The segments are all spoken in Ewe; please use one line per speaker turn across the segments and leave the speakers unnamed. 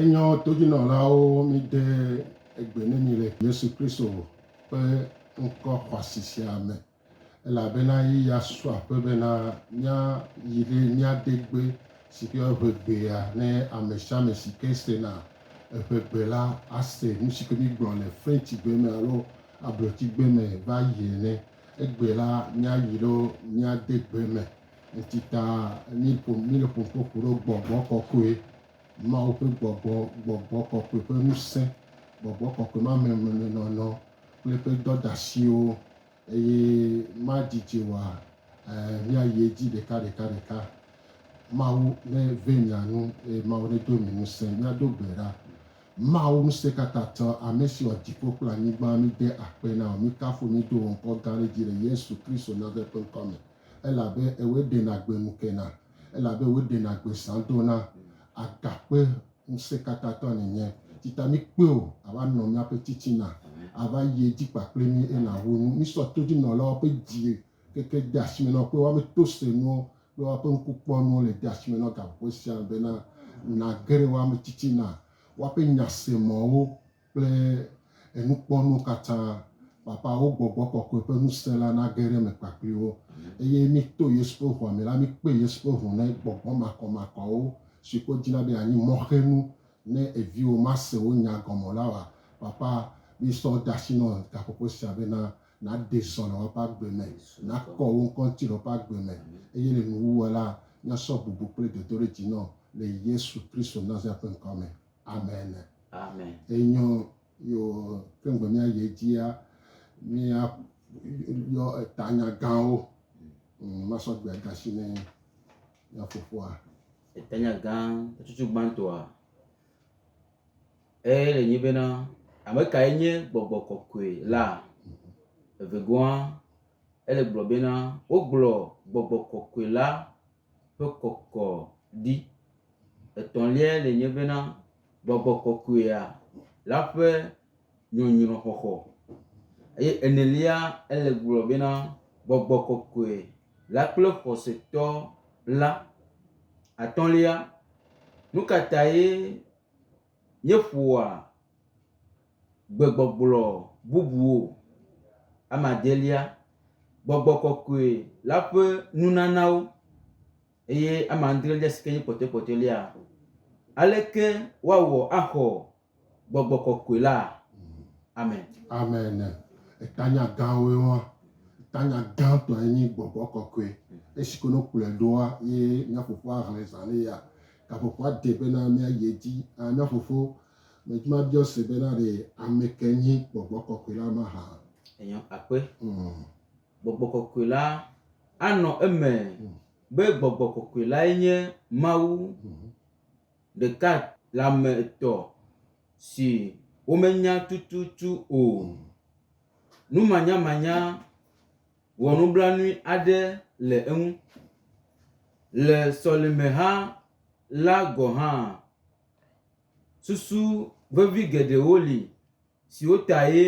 Enyɔ todzinɔlawo mide egbe ne mi le Yesu Kristo ƒe ŋkɔ xɔasi sia me, elabena ye ya su aƒe bena míayi ɖe míade gbe si ke woyɔna be egbea ne amesiame si ke sena eƒe gbe la ase nusi ke mígblɔ le Frencigbe me alo Abrotsigbe me va yi ene. Egbe la míayi ɖo míade gbe eme. Esi ta míle ƒom kpokpo ɖo gbɔgbɔ kɔkɔe, Mawu ƒe gbɔgbɔ, gbɔgbɔ kɔkɔe ƒe ŋusẽ, gbɔgbɔ kɔkɔe ma me memenɔnɔ kple eƒe dɔdeasiwo, eye madzidzi o la, ɛ̃, míayi edzi ɖekaɖekaɖeka. Mawu neve mia nu, eye Mawu nedo mi ŋusẽ. Míado gbe ɖa. Mawu Ŋusẽkatãtɔ, ame si wɔ dziƒo kple anyigba, míde akpe na wò, míkafu wò, mído wò ŋkɔ gã ɖe dzi le Yesu Kristo Nazareth ƒe ŋkɔ me. elabe ewɔe ɖena gbe nu kena, elabe ewɔe ɖena gbe zã dona. Agakpe Ŋusẽkatãtɔ nènye, si ta míkpe wò ava nɔ míaƒe titina, ava yi edzi kpakple mí eye nàho nu. Mísɔ todzinɔlawo ƒe dzi keke de asi me na wo kple woƒe tosenuwo kple woƒe ŋkukpɔnuwo le de asi me na wo gaƒoƒo sia me bena nàge ɖe woƒe ame titina, woƒe nyasemɔ̃wo. kple enukpɔnuwo katã, papa, wo gbɔgbɔ kɔkɔe ƒe ŋusẽ la nage ɖe eme kpakpliwo, eye mito Yesu ƒe ʋua me la, mikpe Yesu ƒe ʋu ne gbɔgbɔ makɔmakɔawo, siwo ke wodzina be yeanyi mɔxenu ne eviwo mase wo nya gɔme o la wòa. Papa, misɔ de asi nɔ gaƒoƒo sia bena nàɖee zɔ le woƒe agbe me, nàkɔ wo ŋkɔ ŋuti le woƒe agbe me, eye le nuwuwua la, míasɔ bubu kple dodoɖedzi nɔ le Yesu Kristo Nazaret ƒe ŋkɔ me. Ame ene. Amen. Enyɔ yo ke ŋgbe mía yi edzia mía yɔ etanya gãwo. Mm, masɔ gbe da shi ne mía fofoa. Etanya gã
tututu gbãtɔa eye le nyi bena ame kae nye gbɔgbɔ kɔkɔe la. Evegoa ele gblɔ bena wogblɔ gbɔgbɔ kɔkɔe la ƒe kɔkɔ ɖi. Etɔ̃liae le nye bena gbɔgbɔ kɔkɔea la ƒe nyɔnyrɔ xɔxɔ eye enelia ele gblɔ bena gbɔgbɔ kɔkɔe la kple xɔsetɔ la. Atɔ̃lia, nu ka tae Míeƒoa gbegbɔgblɔ bubuwo. Ame adelia, gbɔgbɔ kɔkɔe la ƒe nunanawo eye ame adrelia si ke nye kpɔtɔekpɔtɔlia, aleke woawɔ axɔ gbɔgbɔ kɔkɔe la? Amen. Amen. Etanya
gãwoe ma. Etanya gãtɔe nye gbɔgbɔ kɔkɔe. Esi ke ne wokplɔe ɖoa ye mía fofoa hlẽ zã nɛ ya. Gaƒoƒoa de bena míayi edzi aa, mía fofo Medzma biɔ se bena ɖe ame kae nye gbɔgbɔ kɔkɔe la mahã. Enyo akpe.
Mm. Gbɔgbɔ kɔkɔe la anɔ eme mm. be gbɔgbɔ kɔkɔe lae nye Mawu mm. ɖeka le ame etɔ̃ si womenya tututu o. Mm. Numanyamanya wɔ nublanui aɖe le eŋu. Le sɔlemeha la gɔ̃ hã, susu vevi geɖewo li siwo tae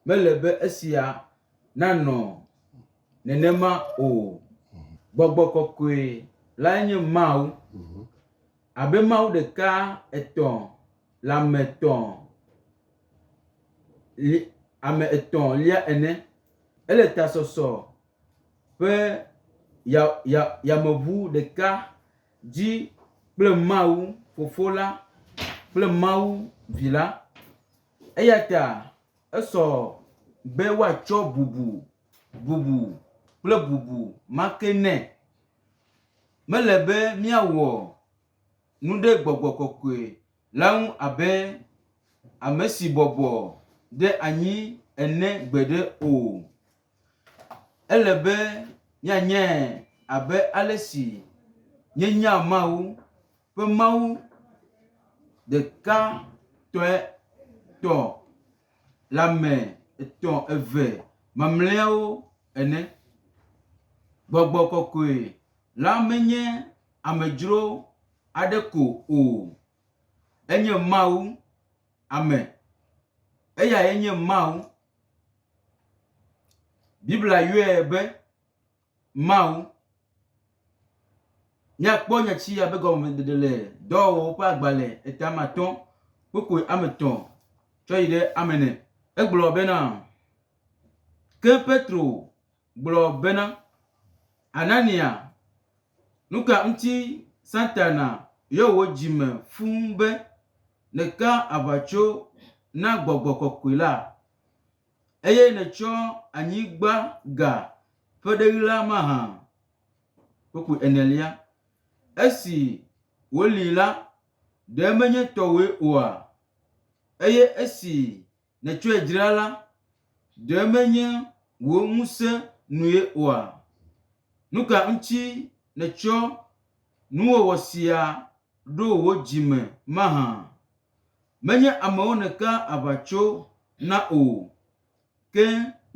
mele be esia nanɔ nenema o. Gbɔgbɔ kɔkɔe lae nye Mawu. Abe Mawu ɖeka etɔ̃ le ame etɔ̃. li, ame etɔ̃ lia ene. Ele tasɔsɔ ƒe ya, ya, yameŋu ɖeka dzi kple Mawu Fofo la kple Mawu Vi la. Eya ta esɔ be woatsɔ bubu, bubu kple bubu ma ke nɛ. Mele be míawɔ nu ɖe gbɔgbɔ kɔkɔe. la ŋu abe ame si bɔbɔ ɖe anyi ene gbeɖe o. Ele be míanyae abe ale si míenyaa Mawu ƒe Mawu ɖeka tɔe tɔ le ame etɔ̃ eve mamlɛawo ene. Gbɔgbɔ kɔkɔe la menye amedzro aɖe ko o. Enye Mawu. Ame. Eyae nye Mawu. Biblia yɔe be Mawu. Míakpɔ nyati ya be gɔmeɖeɖe le dɔwɔwɔ ƒe agbalẽ etame atɔ kpokpoe ame etɔ̃ tsɔ yi ɖe ame ene. Egblɔ bena, Ke Petro gblɔ bena, Anania, nu ka ŋuti Satana yɔ wò dzi me fũu be nèka aʋatso na gbɔgbɔ kɔkɔe la, eye nètsɔ anyigba ga ƒe ɖeɣi la mahã? Kpukpui enelia. Esi wòli la, ɖe menye tɔwòe oa? Eye esi nètsɔe dzra la, ɖe menye wò ŋusẽ nue oa? Nu ka ŋuti nètsɔ nuwɔwɔ sia ɖo wò dzi me mahã? Menye amewo nèkaa aʋatso na o, ke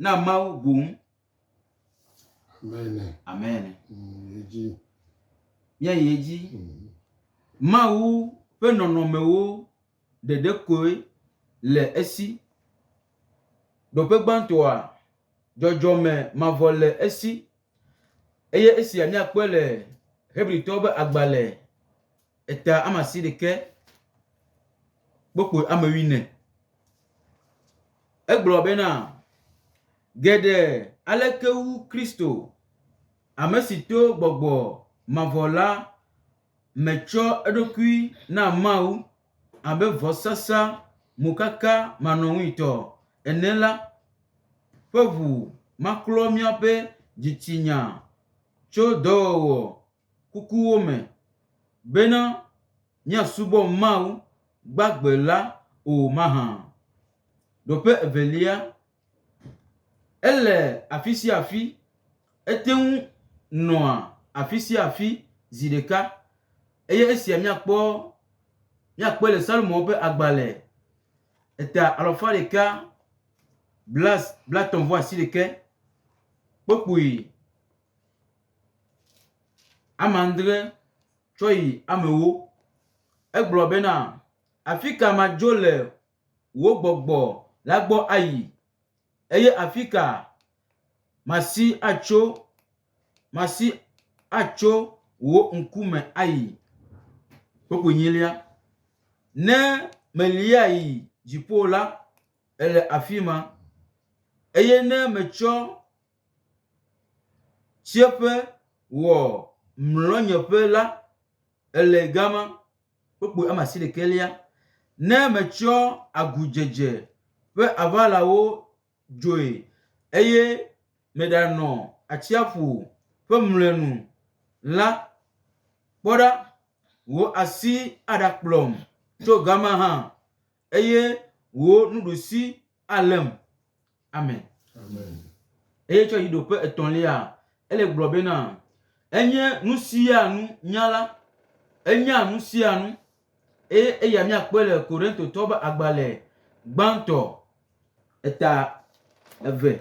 na Mawu boŋ.
Amen.
Míayi edzi. Mawu ƒe nɔnɔmewo. ɖeɖe koe le esi. Ɖoƒe gbãtɔa, dzɔdzɔme mavɔ le esi. Eye esia míakpɔe le Hebritɔwo ƒe agbalẽ eta ama si ɖekɛ kpokpui ame wuiene. Egblɔ bena, geɖe aleke wu Kristo, ame si to gbɔgbɔ mavɔ la metsɔ eɖokui na Mawu abe vɔsasa mokaka manɔŋuitɔ ene la ƒe ʋu maklɔ míaƒe dzitsinya tso dɔwɔwɔ kukuwo me bena míasubɔ Mawu gbagbe la o mahã? Ɖoƒe evelia Ele afi sia afi. Ete ŋu nɔa afi sia afi zi ɖeka. Eye esia míakpɔ, míakpɔe le Salmo ƒe agbalẽ eta alafa ɖeka bla, blatɔ̃ vɔ asiɖeke. Kpukpui ame adre tsɔ yi ame ewo. Egblɔ bena, Afi ka madzo le? wò gbɔgbɔ la gbɔ ayi? Eye afi ka masi atso, masi atso wò ŋkume ayi? Kpukpui nyilia. Ne melia yi dziƒo la, ele afi ma. Eye ne metsɔ tsiẽƒe wɔ mlɔnyeƒe la, ele gama. kpokpo ame asiɖekɛlia, ne metsyɔ agudzedze ƒe aʋalawo dzoe, eye meɖanɔ atsiaƒu ƒe mlɔenu la, kpɔ ɖa, wò asi aɖakplɔm tso gama hã. Eye wò nuɖusi além. Amen. Amen.
Eye tsɔ yi
ɖoƒe etɔ̃lia, ele gblɔ bena, enye nu sia nu nyala, enya nu sia nu, eye eya míakpɔe le Korintotɔ be agbalẽ gbãtɔ eta eve.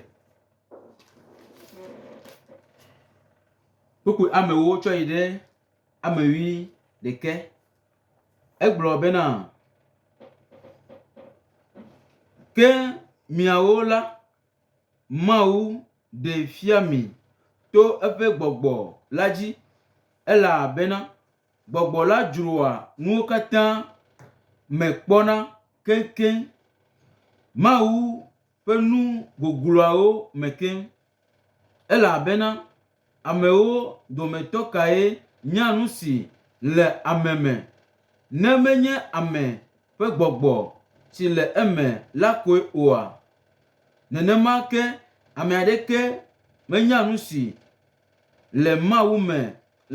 Kpukpui amewo tsɔ yi ɖe amewui ɖeke. Egblɔ bena, Ke miawo la, Mawu ɖee fia mi to eƒe gbɔgbɔ la dzi, elabena gbɔgbɔ la dzroa nuwo katã me kpɔna keŋkeŋ, Mawu ƒe nu gogloawo me keŋ. Elabena Amewo dometɔ kae nya nu si le ame me, ne menye ame ƒe gbɔgbɔ si le eme la koe oa? Nenema ke ame aɖeke menya nu si le Mawu me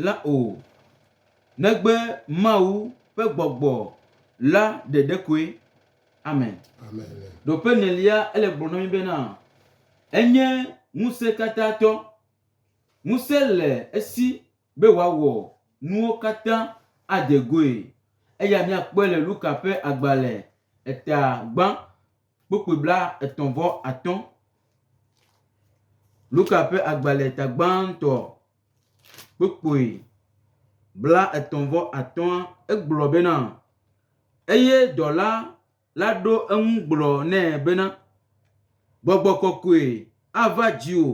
la o, negbe Mawu ƒe gbɔgbɔ la ɖeɖe koe. Amen. Ɖo
ƒe nelia
ele gblɔ na mi bena enye ŋusẽ katã tɔ. Ŋusẽ le esi be wòawɔ nuwo katã ade goe. Eya miakpɔe le Luka ƒe agbalẽ eta gbã kpukpui bla etɔ̃ vɔ atɔ̃. Luka ƒe agbalẽ eta gbãtɔ kpukpui blaetɔ̃-vɔ-atɔ̃a, egblɔ bena, Eye dɔla la ɖo eŋu gblɔ nɛ bena, Gbɔgbɔ kɔkɔe ava dziwò,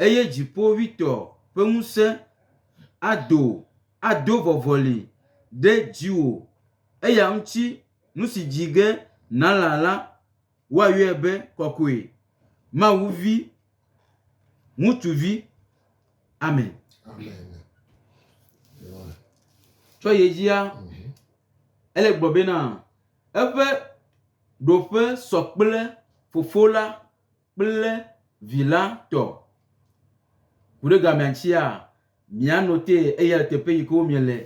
eye Dziƒoʋĩtɔ ƒe ŋusẽ ado, ado vɔvɔli ɖe dziwò, eya ŋuti nu si dzi ge nàlã la, woayɔe be kɔkɔe, Mawu Vi Ŋutsuvi. Amen. Tsɔ ye dzia, mhm. ele gblɔ bena eƒe ɖoƒe sɔ kple fofo la kple vi la tɔ. Ku ɖe gamea tsia, Mia note eya le teƒe yi ke womie le.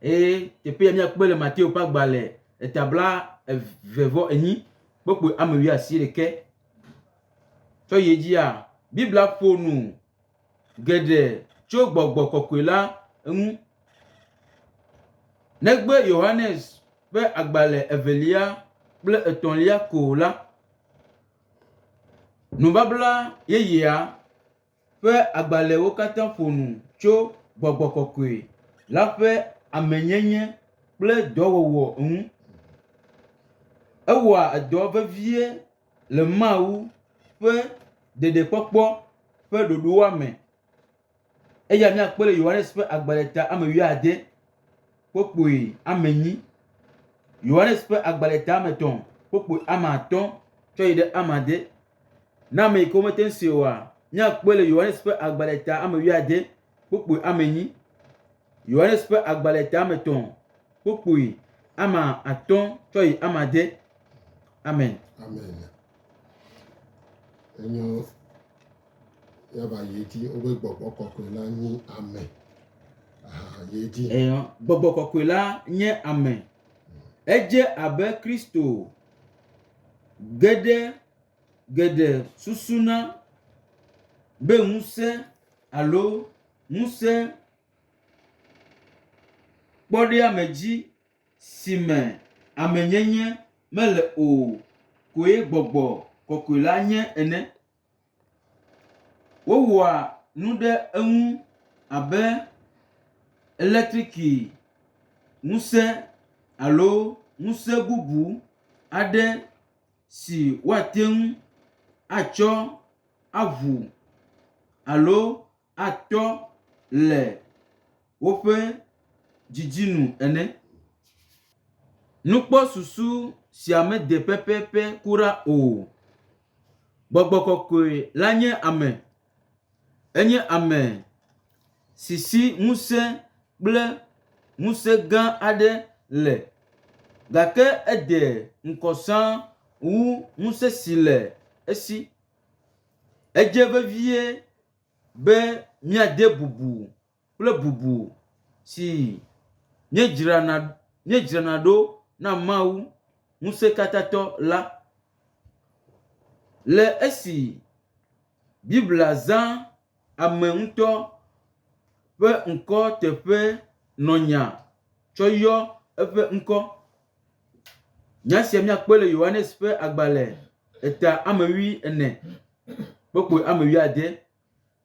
Eye teƒe ya miakpɔe le Mateo ƒe agbalẽ eta bla eve vɔ enyi kpokpui ame wui asi ɖeke. Tsɔ yi edzia, Biblia ƒo nu geɖe tso gbɔgbɔ kɔkɔe la ŋu. Negbe Yohanes ƒe agbalẽ evelia kple etɔ̃lia ko la, nubabla yeyea ƒe agbalẽwo katã ƒo nu tso gbɔgbɔ kɔkɔe la ƒe amenyenye kple dɔwɔwɔ ŋu. Ewɔa dɔ vevie le Mawu ƒe ɖeɖekpɔkpɔ ƒe ɖoɖoa me. Eya míakpɔe le Yohanes ƒe agbalẽ ta ame wuiade kpokpui ame enyi. Yohanes ƒe agbalẽ ta ame etɔ̃ kpokpui ame atɔ̃ tsɔ yi ɖe ame ade. Na ame yi ke womete ŋu si oa, míakpɔe le Yohanes ƒe agbalẽ ta ame wuiade kpukpui ame enyi. Yohanes ƒe agbalẽ ta ame etɔ̃ kpukpui ame atɔ̃ tsɔ yi ame ade. Amen. Amen.
Enyo yaba yi dzi wobe gbɔgbɔ kɔkɔe la nye ame. Aha yi dzi. Eyo gbɔgbɔ
kɔkɔe la nye ame. Edze abe Kristo. Geɖe geɖe susuna be ŋusẽ alo ŋusẽ kpɔɖeamedzi si me amenyenye mele o koe gbɔgbɔ kɔkɔe la nye ene. Wowɔa nu ɖe eŋu abe elektriki ŋusẽ alo ŋusẽ bubu aɖe si woate ŋu atsɔ aŋu alo. atɔ le woƒe didi nu ene. Nukpɔsusu sia mede pɛpɛpɛ kura o. Gbɔgbɔ kɔkɔe la nye ame. Enye ame si si ŋusẽ kple ŋusẽ gã aɖe le gake ede ŋkɔ sãa wu ŋusẽ si le esi. Edze vevie. be míade bubu kple bubu si míedzrana míedzrana ɖo na Mawu Ŋusẽkatãtɔ la. Le esi Biblia zã ame ŋutɔ ƒe ŋkɔ teƒe nɔnya tsɔ yɔ eƒe ŋkɔ. Nya sia míakpɔe le Yohanes ƒe agbalẽ eta ame wui ene kpokpɔ ame wui ade.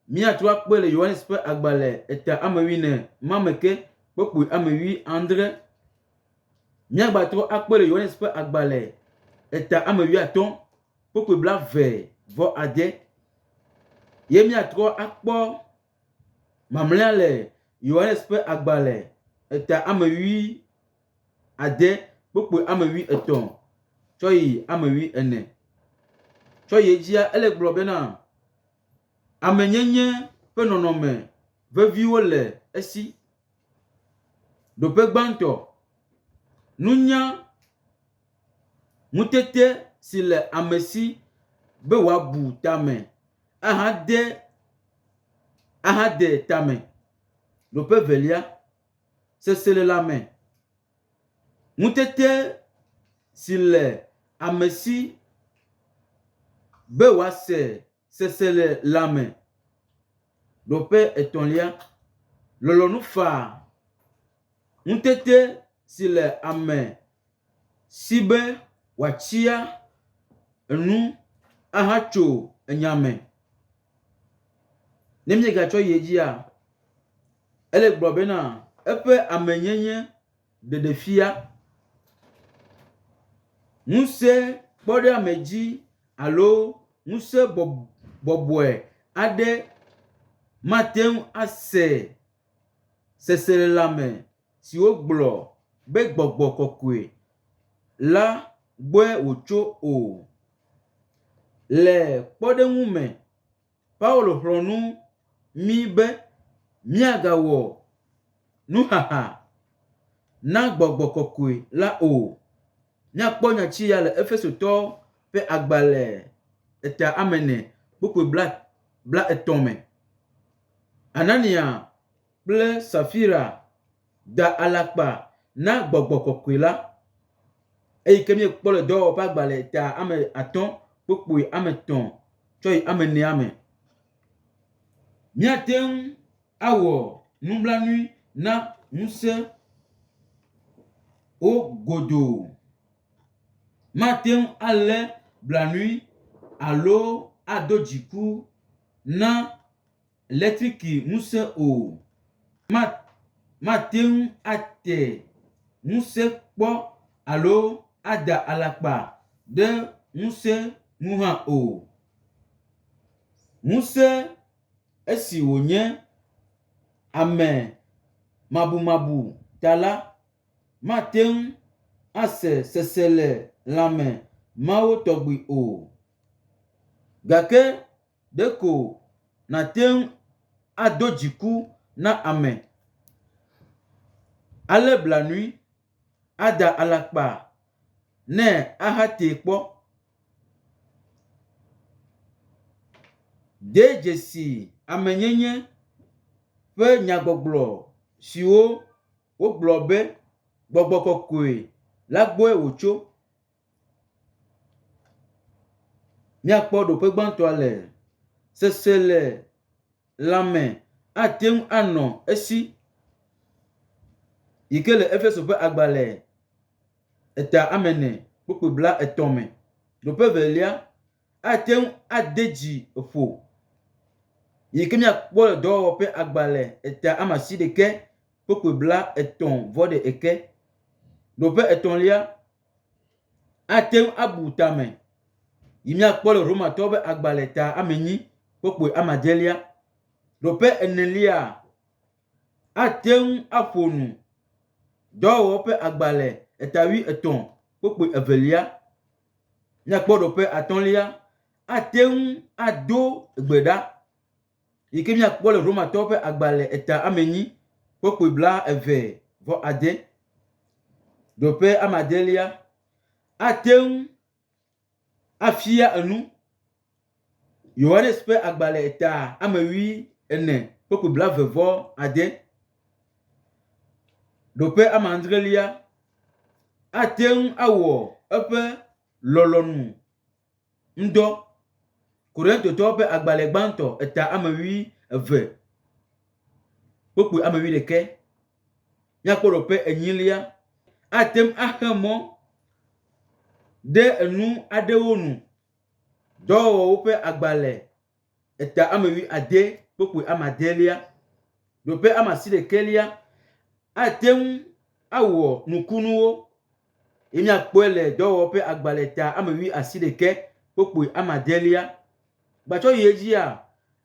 Míatrɔ akpɔe le Yohanes ƒe agbalẽ eta ame wui ene ma me ke kpokpɔ ame wui adre. Míagbatrɔ akpɔe le Yohanes ƒe agbalẽ eta ame wui atɔ kpokpɔ blaeve vɔ ade. Ye míatrɔ akpɔ mamlea le Yohanes ƒe agbalẽ eta ame wui ade kpokpoe ame wui etɔ̃ tsɔ yi ame wui ene. Tsɔ yi edzia ele gblɔ bena, amenyenye ƒe nɔnɔme veviwo le esi. Ɖoƒe gbãtɔ, nunya ŋutete si le ame si be wòabu tame ahade ahade tame. Ɖoƒe evelia, seselelãme, ŋutete si le ame si be wòase seselelãme. Nɔƒe etɔ̃lia, lɔlɔ̃nu faa ŋutete si le ame. si be wòatsia enu ahatso enya me. Ne míegatsɔ yi edzia, ele gblɔ bena eƒe amenyenye ɖeɖefia, ŋusẽ kpɔɖeame dzi alo ŋusẽ bɔbɔe aɖe mate ŋu ase seselelãme o. siwo gblɔ be gbɔgbɔ kɔkɔe la gbɔe wòtso o. Le kpɔɖeŋu me, Paulo xlɔ̃ nu mí be míagawɔ nuxaxa na gbɔgbɔ kɔkɔe la o. Míakpɔ nya ci ya le Efesotɔwo ƒe agbalẽ etea ame ene kpukpui blaetɔ̃ me. Anania kple Safira da alakpa na gbɔgbɔ kɔkɔe la, eyi ke míekpɔ le dɔwɔƒea gba le ta ame atɔ̃ kpokpoe ame etɔ̃ tsɔ yi ame enea me. Míate ŋu awɔ nublanui na ŋusẽ wo godoo. Mate ŋu alé blanui alo ado dziku na letriki ŋusẽ o, ma, mate ŋu ate ŋusẽ kpɔ alo ada alakpa ɖe ŋusẽ ŋu hã o. Ŋusẽ esi wònye ame mabumabu ta la, mate ŋu ase seselelãme mawo tɔgbi o. Gake Ɖeko nàte ŋu ado dziku na ame, alé blanui, ada alakpa nɛ ahatee kpɔ. De dzesi amenyenye ƒe nyagbɔgblɔ siwo wogblɔ be gbɔgbɔ kɔkɔe la gbɔe wòtso. Míakpɔ ɖoƒe gbãtɔa le seselelãme ate ŋu anɔ esi yi ke le Efeso ƒe agbalẽ eta ame ene kpukpui blaetɔ̃ me. Ɖoƒe evelia ate ŋu ade dzi ƒo yi ke míakpɔ le dɔwɔwɔ ƒe agbalẽ eta ame asiɖeke kpukpui blaetɔ̃ vɔ ɖe eke. Ɖoƒe etɔ̃lia ate ŋu abu tame yi míakpɔ le Romatɔwo ƒe agbalẽ ta ame enyi kpukpui ame adelia. Nɔƒe enelia, ate ŋu aƒo nu dɔwɔwɔ ƒe agbalẽ eta wui etɔ̃ kpukpui evelia. Míakpɔ nɔƒe atɔ̃lia, ate ŋu ado gbe ɖa. yi ke míakpɔ le Romatɔwo ƒe agbalẽ eta ame enyi kpokpui bla eve vɔ ade, ɖoƒe ame adelia, ate ŋu afia enu. Yohanes ƒe agbalẽ eta ame ʋi ene kpokpui bla eve vɔ ade, ɖoƒe ame adrelia, ate ŋu awɔ eƒe lɔlɔ̃nu. ŋdɔ. Korintotɔwo ƒe agbalẽ gbãtɔ eta ame wui eve, kpukpui ame wui ɖekɛ. Míakpɔ ɖo ƒe enyilia. Ate ŋu axe mɔ ɖe enu aɖewo nu. Dɔwɔwɔwo ƒe agbalẽ. eta ame wui ade kpokpui ame adelia ɖo ƒe ame asi ɖekɛlia ate ŋu awɔ nukunuwo ye miakpɔe le dɔwɔwɔ ƒe agbalẽ ta ame wui asi ɖekɛ kpokpui ame adelia. Gbatsɔ yi edzia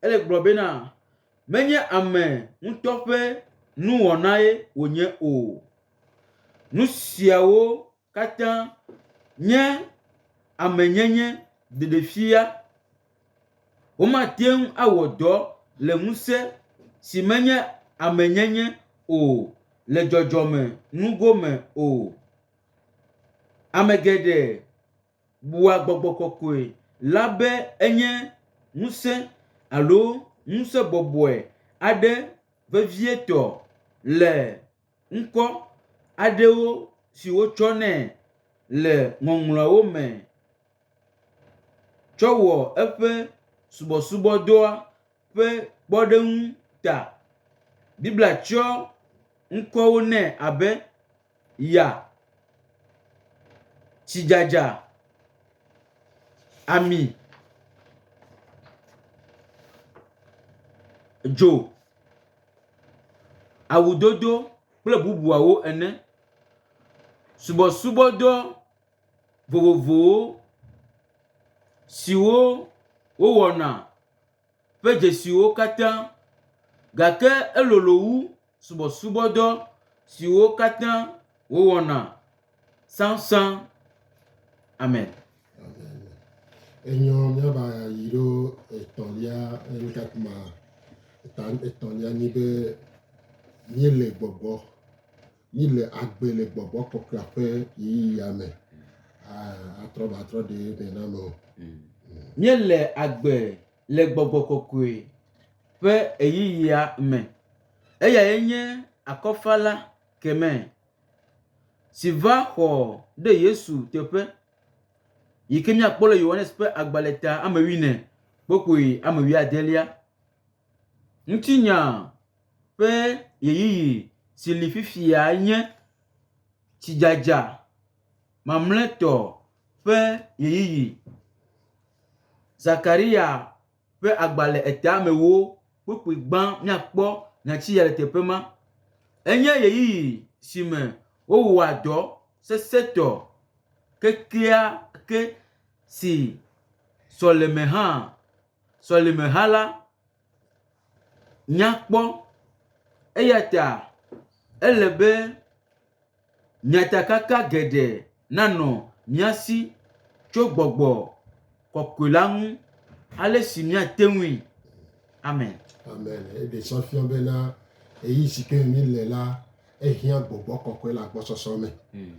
ele gblɔ bena menye ame ŋutɔ ƒe nuwɔnae wònye o. Nu siawo. katã nye amenyenye ɖeɖefia. Womate ŋu awɔ dɔ le ŋusẽ si menye amenyenye o le dzɔdzɔme nugo me o. Ame geɖe bua gbɔgbɔ kɔkɔe la be enye ŋusẽ alo ŋusẽ bɔbɔe aɖe vevietɔ le. ŋkɔ aɖewo si wotsɔ nɛ le Ŋɔŋlɔawo me tsɔ wɔ eƒe subɔsubɔdɔa ƒe kpɔɖeŋu ta. Biblia tsɔ ŋkɔwo nɛ abe, Ya, Tsidzadza, Ami, Dzo awudodo kple bubuawo ene. Subɔsubɔdɔ vovovowo siwo wowɔna ƒe dzesiwo katã gake elolo wu subɔsubɔdɔ siwo katã wowɔna sãsã. Amen.
Enyɔ míava yi ɖo etɔ̃lia enuka kuma eta etɔ̃lia nyi be míele gbɔgbɔ míele agbe le gbɔgbɔ kɔkɔea ƒe ɣeyiɣia me atrɔ ba trɔ ɖe me na me o. Míele
agbe le gbɔgbɔ kɔkɔe ƒe ɣeyiɣia me. Eyae nye akɔfala kemɛ. si va xɔ ɖe Yesu teƒe yi ke míakpɔ le Yohanes ƒe agbalẽ ta ame wuiene kpokpui ame wuiadelia. Ŋutinya ƒe ɣeyiɣi si li fifia nye tsidzadza mamlɛtɔ ƒe ɣeyiɣi. Zakaria. ƒe agba le etame wo kpukpui gbã míakpɔ nyati ya le teƒe ma. Enye ɣeyiɣi si me wowɔa dɔ sesẽtɔ kekeake si sɔleme hã sɔleme hã la nya kpɔ. Eya ta ele be. Nyatakaka geɖe nanɔ mía si tso gbɔgbɔ kɔkɔe la ŋu ale si míate ŋui. Amen. Amen.
Eɖe sɔ fiɔ bena eyi si ke mi le la ehiã gbɔgbɔ kɔkɔe le agbɔsɔsɔ me. Hmm.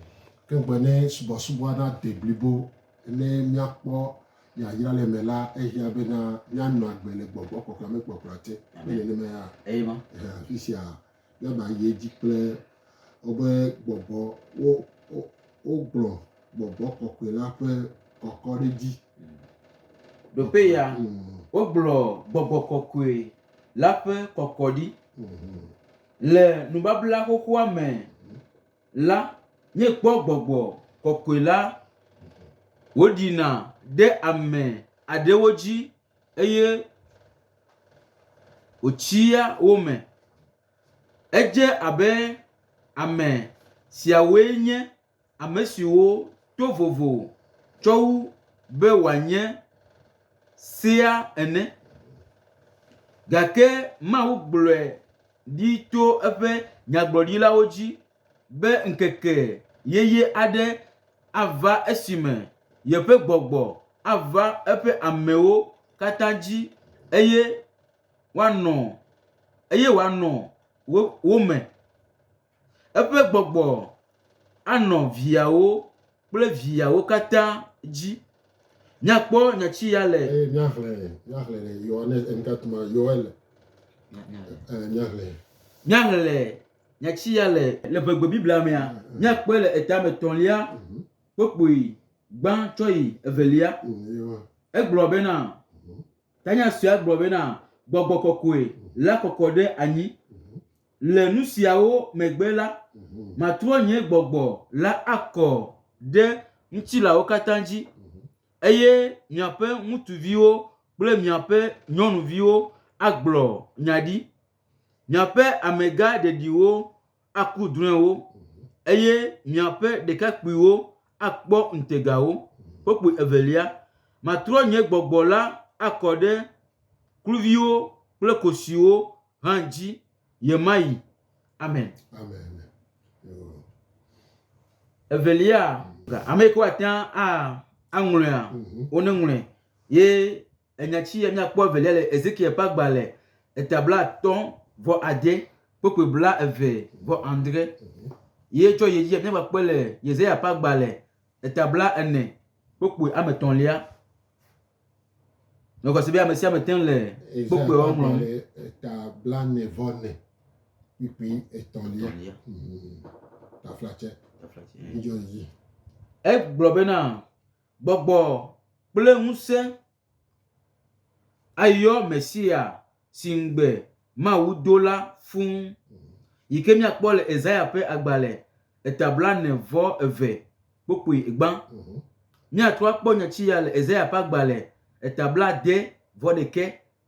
Ke gbe ne subɔsubɔ na de blibo ne míakpɔ yayra le me la ehiã bena míanɔ agbe le gbɔgbɔ kɔkɔe me kpɔkplɔ te. Amen. Nenema ya. Amen. Afi
sia.
Ne mayi edzi kple woƒe gbɔgbɔ, wo, wo, wogblɔ gbɔgbɔ kɔkɔe la ƒe kɔkɔɖedzi.
Ɖoƒe ya, wogblɔ gbɔgbɔ kɔkɔe la ƒe kɔkɔɖi. Le nubabla xoxoa me la, míekpɔ gbɔgbɔ kɔkɔe la wòɖina ɖe ame aɖewo dzi. eye wòtsia wo me. Edze abe ame siawoe nye ame siwo to vovo tsɔ wu be wòanye sea ene. Gake Mawu gblɔe ɖi tso eƒe nyagblɔɖilawo dzi be ŋkeke yeye aɖe ava esime yeƒe gbɔgbɔ ava eƒe amewo katã dzi eye woanɔ eye wòanɔ wo wo me. Eƒe gbɔgbɔ anɔ viawo kple viawo katã dzi. Míakpɔ nya si ya le. Eye míaxlẽ míaxlẽ
le Yohanes eŋutatuma Yoel. Míaxlẽ.
Míaxlẽ. Nya ci ya le le ƒe gbe Biblia mea, míakpɔe le eta me tɔ̃lia kpokpoi gbã tsɔ yi evelia. Egblɔ bena, tanya suea gblɔ bena gbɔgbɔ kɔkɔe la kɔkɔ ɖe anyi. Le nu siawo megbe la, matrɔ nye gbɔgbɔ la akɔ ɖe ŋutilãwo katã dzi, eye miaƒe ŋutsuviwo kple miaƒe nyɔnuviwo agblɔ nya ɖi. Miaƒe amegã ɖeɖiwo aku drɔ̃ewo, eye miaƒe ɖekakpuiwo akpɔ ŋutegawo. Kpukpui evelia, matrɔ nye gbɔgbɔ la akɔ ɖe kluviwo kple kosiwo hã dzi ɣe ma ɣi. Amen. Evelia, ame yi ke woate ŋu aŋlɔea, woneŋlɔe ye Enya ci ya míakpɔ evelia le Ezekiel ƒe agbalẽ eta blaatɔ̃ vɔ ade, kpukpui blaeve vɔ adre. Ye tsɔ yi edzi míava kpɔe le Yesaya ƒe agbalẽ eta blaene, kpukpui ame etɔ̃lia. Megɔe se be ame sia ame te le kpukpuiawo ŋlɔm. Eta blaene
vɔ ne, kpukpui etɔ̃lia. Taflatse. Taflatse.
Egblɔ bena, Gbɔgbɔ kple ŋusẽ ayɔ Mesia si ŋugbe Mawu do la fũ, yi ke míakpɔ le Esaya ƒe agbalẽ eta blaene vɔ eve kpokpui gbã. Míatrɔ akpɔ nyati ya le Esaya ƒe agbalẽ eta blaade vɔ ɖekɛ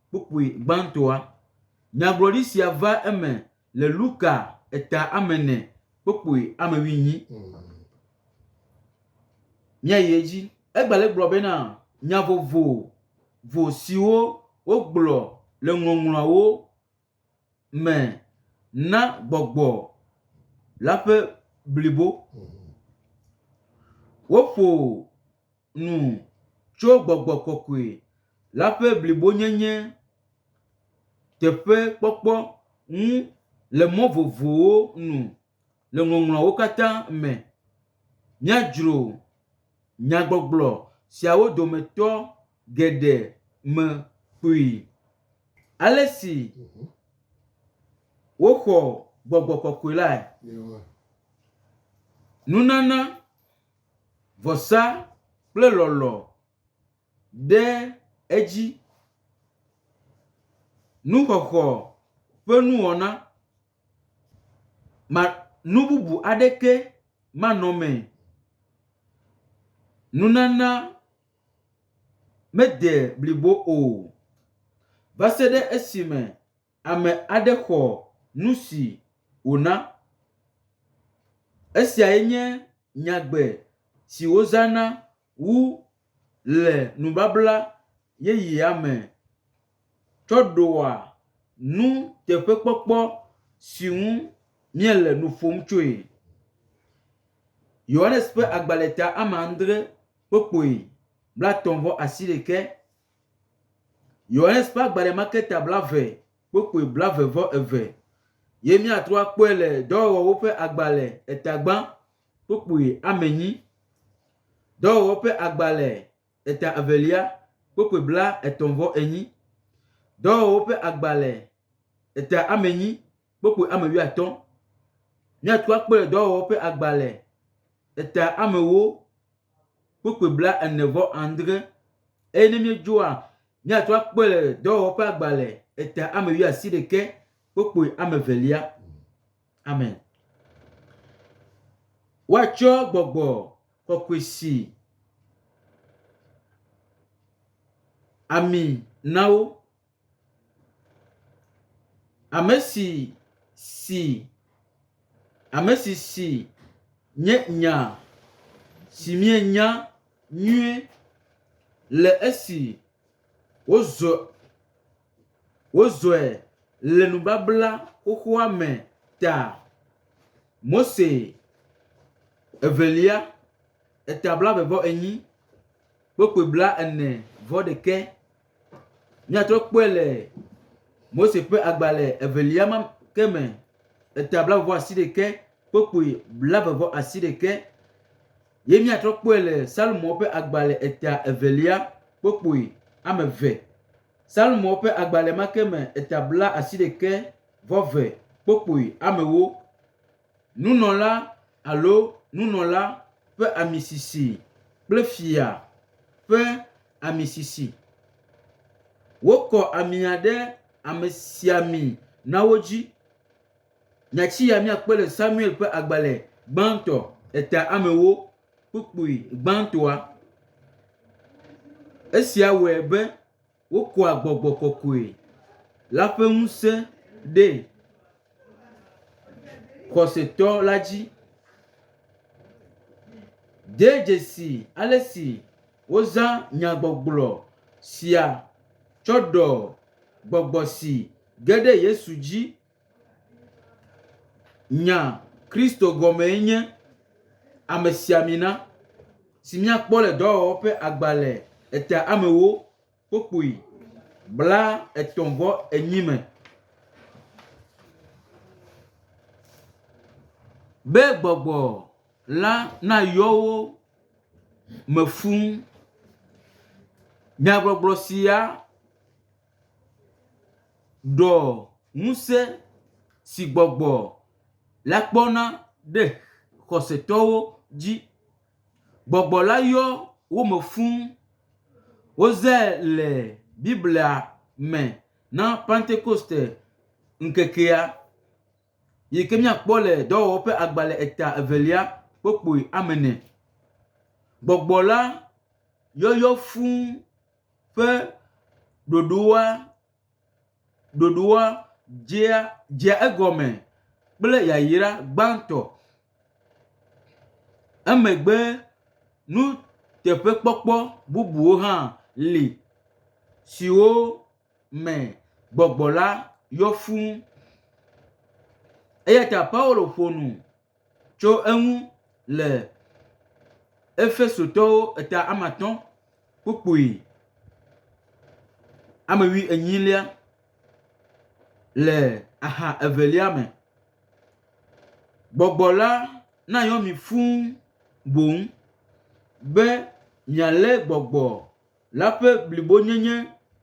Kpukpui gbãtɔa. Nyagblɔɖi sia va eme le Luka eta amene kpukpui amewinyi. Míayi edzi. Egbale gblɔ bena nya vovovo siwo wogblɔ le Ŋɔŋlɔawo me na gbɔgbɔ la ƒe blibo. Woƒo nu tso gbɔgbɔ kɔkɔe la ƒe blibonyenye teƒe kpɔkpɔ ŋu le mɔ vovovowo nu le ŋɔŋlɔawo katã me. Míadzro nyagbɔgblɔ siawo dometɔ. geɖe me kpui. Ale si woxɔ gbɔgbɔ kɔkɔe lae, nunana, vɔsa kple lɔlɔ̃ ɖe edzi. Nuxɔxɔ ƒe nuwɔna ma nu bubu aɖeke manɔmee. Nunana. mede blibo o va se ɖe esime ame aɖe xɔ nu si wòna. Esiae nye nyagbe si wozãna wu le nubabla yeyea me tsɔ ɖoa nuteƒekpɔkpɔ si ŋu míele nu ƒom tsoe. Yohanes ƒe agbalẽ ta ame adre. kpokpoe blatɔ̃ vɔ asiɖekɛ, Yohanes ƒe agbalẽ ma ke ta blave kpokpoe blave vɔ eve, ye míatrɔ akpɔe le Dɔwɔwɔwo ƒe agbalẽ etagbã kpokpoe ame enyi, Dɔwɔwɔwo ƒe agbalẽ eta evelia kpokpoe bla etɔ̃ vɔ enyi, Dɔwɔwɔwo ƒe agbalẽ eta ame enyi kpokpui ame wuiatɔ̃. Míatu akpe ɖe dɔwɔwɔ ƒe agbalẽ eta amewo kpokpui blaene vɔ adre eye ne míedzɔa míatu akpe ɖe dɔwɔwɔ ƒe agbalẽ eta ame wuiasi ɖeke kpokpui ame evelia. Amen. Woatsɔ gbɔgbɔ kɔkɔe si ami na wo Ame si si, ame si si nye nya si mienya nyuie le esi wozɔ wozɔe le nubabla xoxoa me ta. Mose Evelia, eta blaeve vɔ enyi, kpukpui blaene vɔ ɖekɛ. Míatrɔ kpɔe le Mose ƒe agbalẽ evelia ma ke me, eta blaeve asi ɖeke, kpokpui blaeve vɔ asi ɖeke. Ye míatrɔ kpɔe le Salmo ƒe agbalẽ eta evelia, kpokpui ame eve. Salmo ƒe agbalẽ ma ke me, eta bla asi ɖeke vɔ ve, kpokpui amewo. Nunɔla alo nunɔla ƒe amisisi kple fia ƒe amisisi. Wokɔ amia ɖe amesiami nawo dzi. Nyati ya míakpɔe le Samuel ƒe agbalẽ gbãtɔ, Eta Amewo Kpukpui Gbãtɔa. Esia wɔe be wokɔa gbɔgbɔ kɔkɔe la ƒe ŋusẽ ɖee. xɔsetɔ la dzi. De dzesi ale si wozã nyagbɔgblɔ sia tsɔ ɖɔ gbɔgbɔ si ge ɖe Yesu dzi nya Kristo gɔmee nye Amesiamina, si míakpɔ le Dɔwɔwɔ ƒe Agbalẽ Eteamewo kpokpui bla etɔ̃ vɔ enyi me. Be gbɔgbɔ la na yɔ wo me fũ. Nyagbɔgblɔ sia ɖɔ ŋusẽ si gbɔgbɔ la kpɔna ɖe xɔsetɔwo dzi Gbɔgbɔ la yɔ wo me fũ. Wozãe le Biblia me na Pentekoste ŋkekea, yi ke míakpɔ le Dɔwɔwɔ ƒe agbalẽ eta evelia kpokpui amene. Gbɔgbɔ la yɔyɔ fũ ƒe ɖoɖoa. ɖoɖoa dzea dzea egɔme kple yayra gbãtɔ. Emegbe nuteƒekpɔkpɔ bubuwo hã li siwo me gbɔgbɔ la yɔ fũu. Eya ta Paulo ƒo nu. Tso eŋu le Efesotɔwo eta ame atɔ̃ kpukpui ame wui enyilia le aha evelia me. Gbɔgbɔ la nayɔ mi fũu boŋ be mialé gbɔgbɔ la ƒe blibonyenye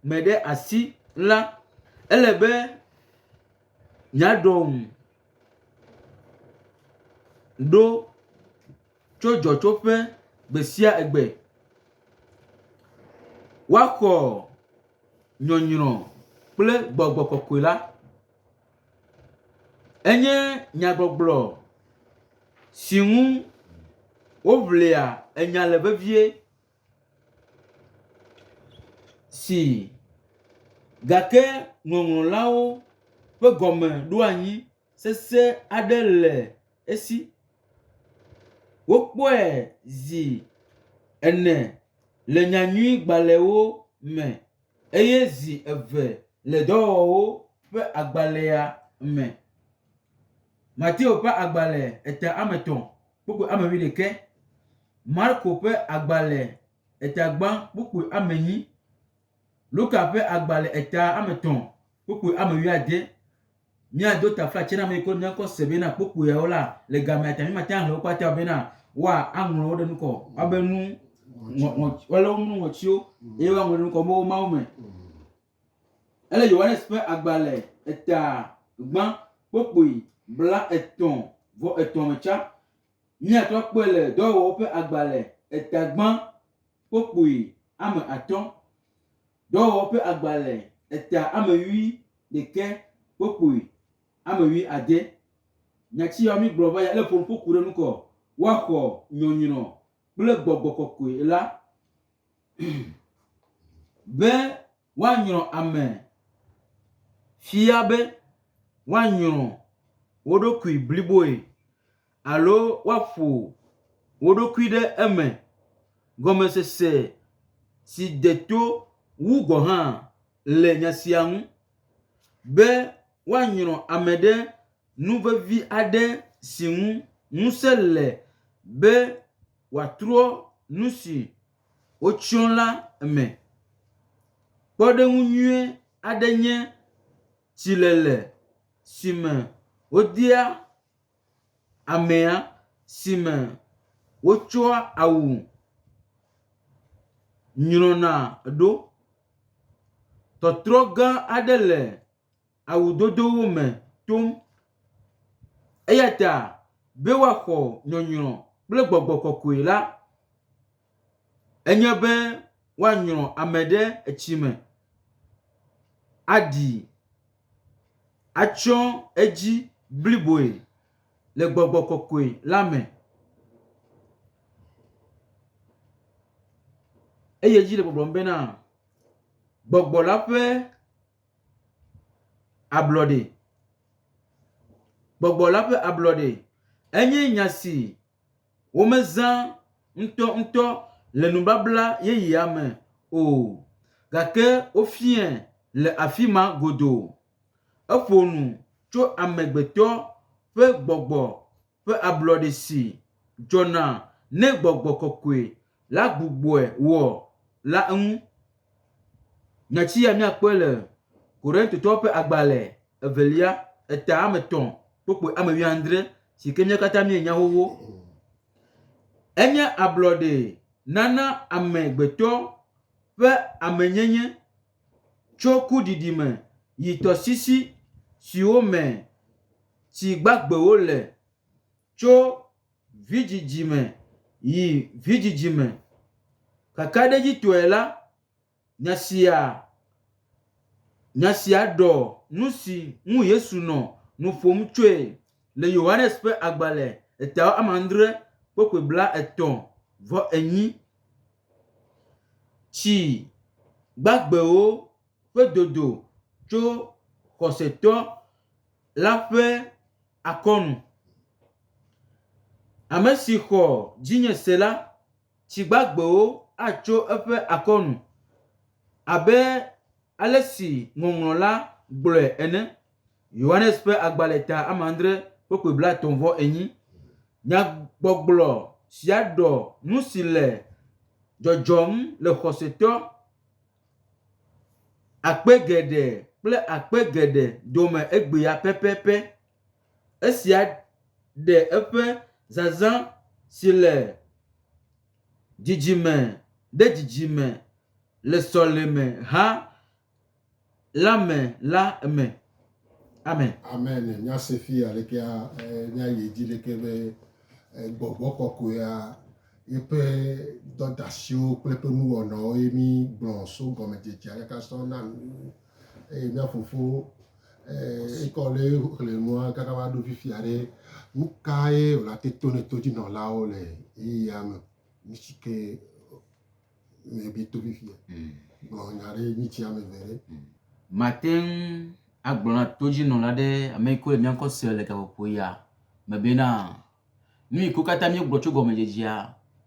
me ɖe asi la, ele be míaɖɔ ŋu ɖo tso dzɔtsoƒe gbe sia gbe. Woaxɔ nyɔnyrɔ kple gbɔgbɔ kɔkɔe la. Enye nyagbɔgblɔ si ŋu woŋlea enya le vevie. Ii, Gake ŋɔŋlɔlawo ƒe gɔme ɖo anyi sesẽ aɖe le esi. Wokpɔe zi ene le nyanyuigbalẽwo me eye zi eve le dɔwɔwɔwo ƒe agbalẽa me. Mateo ƒe agbalẽ ete ame etɔ̃. kpukpui ame wuiɖekɛ. Marko ƒe agbalẽ etagbã kpukpui ame enyi. Luka ƒe agbalẽ eta ame etɔ̃ kpukpui ame wuiade. Míado taflatse na ame yiwo ne kɔ se bena kpukpuiawo la le gamea ta mímate ŋu axlẽ wo kpata bena woaŋlɔ wo ɖe nu kɔ. Woabe nu ŋɔ, ŋɔ, woalé wo nu ŋɔtiwo eye woaŋlɔ ɖe nu kɔ be wo Mawu me. Ele Yohanes ƒe agbalẽ eta gbã kpokpui blaetɔ̃ vɔ etɔ̃ me tsã. Míate ŋu akpɔe le Dɔwɔwɔwo ƒe agbalẽ eta gbã kpokpui ame atɔ̃, Dɔwɔwɔwo ƒe agbalẽ eta ame wui ɖekɛ kpokpui ame wui ade. Nya ci yawo mígblɔ va ya ele ƒonuƒo ku ɖe nu kɔ, Woaxɔ nyɔnyrɔ kple gbɔgbɔ kɔkɔe la be woanyrɔ ame fia be woanyrɔ wo ɖokui bliboe alo woaƒo wo ɖokui ɖe eme. Gɔmesese si de to wu gɔ̃ hã le nya sia ŋu be woanyrɔ ame ɖe. Nu vevi aɖe si ŋu ŋusẽ le be wòatrɔ nu si wotsyɔ la me. Kpɔɖeŋu nyui aɖe nye tsilele si me wodea amea si me wotsɔa awu nyrɔna ɖo. Tɔtrɔ gã aɖe le. awudodowo me tom. Eya ta be woaxɔ nyɔnyrɔ kple gbɔgbɔ kɔkɔe la, enye be woanyrɔ ame ɖe etsi me aɖi atsɔ edzi bliboe le gbɔgbɔ kɔkɔe la me. Eye edzi le gbɔgblɔm bena, gbɔgbɔ la ƒe… Ablɔɖee. Gbɔgbɔ la ƒe ablɔɖee. Enye nya si womezã ŋutɔŋutɔ le nubabla yeyea me o gake wofiae le afi ma godoo. Eƒo nu tso amegbetɔ ƒe gbɔgbɔ ƒe ablɔɖe si dzɔna ne gbɔgbɔ kɔkɔe la gbugbɔe wɔ la ŋu. Nya sia míakpɔe le Korintotɔwo ƒe agbalẽ evelia, eta ame etɔ̃ kpokpue ame wuiadre si ke mía katã míenya xoxo. Enye ablɔɖe nana amegbetɔ ƒe amenyenye tso kuɖiɖi me yi tɔsisi siwo me tsi gbagbewo le, tso vidzidzi me yi vidzidzi me. Kakaɖedzitɔe la, nya sia nya sia ɖɔ nusi ŋu Yesu nɔ nu ƒom tsoe le Yohanes ƒe agbalẽ etawɔadre kpɔkpɔe blaetɔ̃ vɔ enyi. Tsi gbagbewo ƒe dodo tso xɔsetɔ la ƒe akɔnu. Ame si xɔ dzinye se la, tsi gbagbewo atso eƒe akɔnu abe ale si Ŋɔŋlɔ la gblɔe ene. Yohanes ƒe agbalẽ ta ame andre kpokpui blatɔ̃ vɔ enyi. Nyagbɔgblɔ sia ɖɔ nu si le dzɔdzɔm le xɔsetɔ akpe geɖe kple akpe geɖe dome egbea pɛpɛpɛ. Esia ɖe eƒe zazã si le dzidzime ɖe dzidzime le sɔleme hã la me la me. Amen. Amen. Nya
se fi alekea nya yi dzi leke be gbɔgbɔ kɔkɔea yeƒe dɔdasiwo kple ƒe nuwɔnawo ye mi gblɔ so gɔmedzedze aleka sɔ na nu eye mia fofo ekɔ le xle nua kaka va ɖo fifi aɖe nu ka ye wòla te to ne to dzi nɔlawo le eye ya me mi si ke le bi to fifia mm. gblɔ nya ɖe nyi tsi ame eve ɖe mm. mate ŋu
agblɔ na todzinɔla ɖe ame yi ko le míankɔ se le gaƒoƒo ya me bena nu yi ko katã míegblɔ tso gɔmedzedzea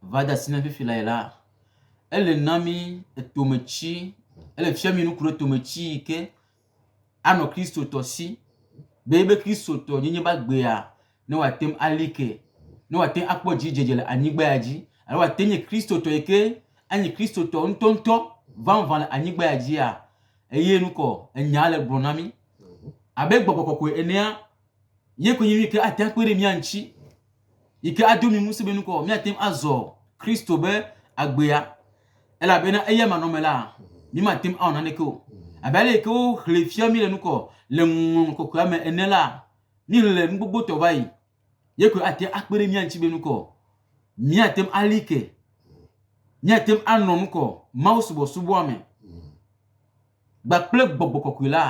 va de asi na fifi la yi la ele na mí etometi ele fia mí nuku ɖe tometi yi ke anɔ Kristotɔ si, be ebe Kristotɔ nyenye va gbea, ne wòate ŋu ali ke, ne wòate ŋu akpɔ dzidzedze le anyigba ya dzi, alo wòate ŋu nye Kristotɔ yi ke anyi Kristotɔ ŋutɔŋutɔ vavã le anyigba ya dzia, eye nukɔ enya le gblɔ na mí abe gbɔgbɔ kɔkɔe enea, Ye koe nye nu yi ke ate ŋu akpe ɖe mía ŋuti, yi ke ado mi ŋusẽ be nukɔ míate ŋu azɔ Kristo be agbea, elabena eya manɔme la, mímate ŋu awɔ naneke o. Abe ale yi ke woxlẽ fia mí le nukɔ le ŋɔŋlɔ kɔkɔea me ene la, míxlẽ nu gbogbo tɔ va yi. Ye koe ate ŋu akpe ɖe mía ŋuti be nukɔ míate ŋu ali ke, míate ŋu anɔ nukɔ Mawu subɔsubɔa me. gba kple gbɔgbɔ kɔkɔe la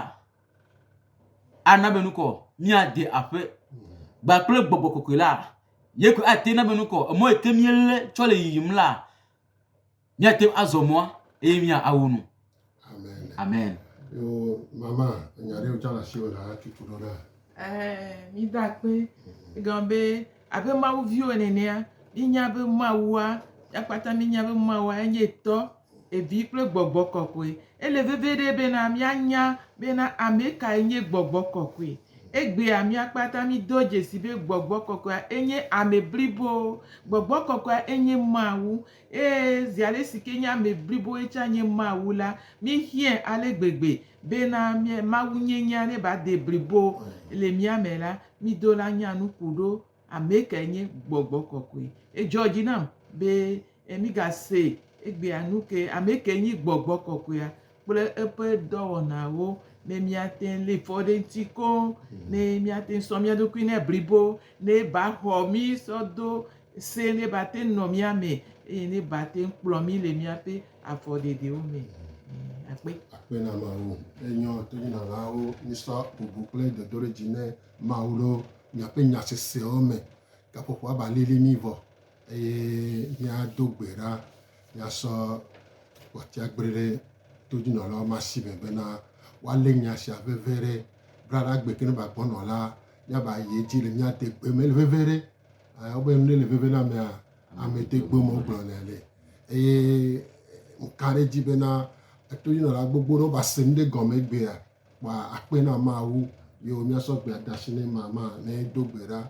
ana be nukɔ míade aƒe gba kple gbɔgbɔ kɔkɔe la ye ko ate na be nukɔ emɔ yi ke míele tsɔ le yiyim la míate azɔ mɔa eye mía awo nu amen.
amen.
yo mama
nya ɖe wotsa le asi wò la tutu ɖo ɖa. Ɛɛ, mído akpe.
Egɔme be abe Mawu viwo nenea, mínya be Mawua, ya kpata mínya be Mawua enye Tɔ, Vi kple Gbɔgbɔ kɔkɔe. Ele veviɖe bena míanya bena ame kae nye Gbɔgbɔ kɔkɔe. Egbea mía kpata mído dzesi be Gbɔgbɔ kɔkɔea enye ame blibo. Gbɔgbɔ kɔkɔea enye Mawu. Eye zi ale si ke nye ame bliboe tsã nye Mawu la, míehiãe ale gbegbe bena mía, mawunyenyea neva de blibo le mía me la, mído la nya nuku ɖo ame kae nye gbɔgbɔ kɔkɔe. Edzɔ dzi nam be mígase egbea nu ke, ame kae nye gbɔgbɔ kɔkɔea? kple eƒe dɔwɔnawo ne míate ŋu lé fɔ ɖe eŋuti koŋ, ne míate ŋu sɔ mía ɖokui nɛ blibo, ne eba xɔ mí sɔ do se ne eba te ŋu nɔ mía me eye ne eba te ŋu kplɔ mí le míaƒe afɔɖeɖewo me. Akpe. Akpe na Mawu.
Enyɔ tonyinalawo mísɔ bubu kple dodoɖedzi ne Mawu ɖo míaƒe nya sesewo me. Gaƒoƒoa ba lili mí vɔ Eye míado gbe ɖa, míasɔ gbɔtiagble ɖe todinɔlawo ma si me bena woalé nya sia veve ɖe braɖagbe ke ne va gbɔnɔ la, míava yi edzi le mía degbe me veve ɖe. Eh, wobe nu ɖe le veve na amea, ame degbe me wogblɔnɛ le. Eye ŋka ɖe edzi bena etodinɔla gbogbo ɖewo va se nu ɖe gɔme egbea, kpɔa akpe na Mawu. Yo míasɔ gbea da asi nɛ mama ne do gbe ɖa.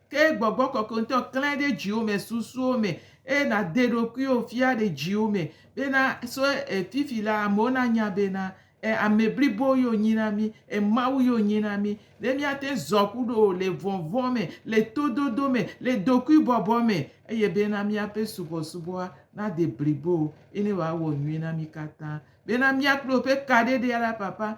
Ke Gbɔgbɔ Kɔkɔe ŋutɔ klãe ɖe dziwò me, susuwò me, eye nàde ɖokuiwò fia le dziwò me bena, so e, fifi la, amewo nanya bena, e, ame blibo ye wònyi na mí, e, Mawu ye wònyi na mí, ne míate ŋu zɔ kuɖo wò le vɔvɔ̃ me, le tododo me, le dokuibɔbɔ me, eye bena míaƒe subɔsubɔa nade blibo, eye ne wòawɔ nyui na mí katã. Bena mía kple wò ƒe kaɖeɖea la, Papa,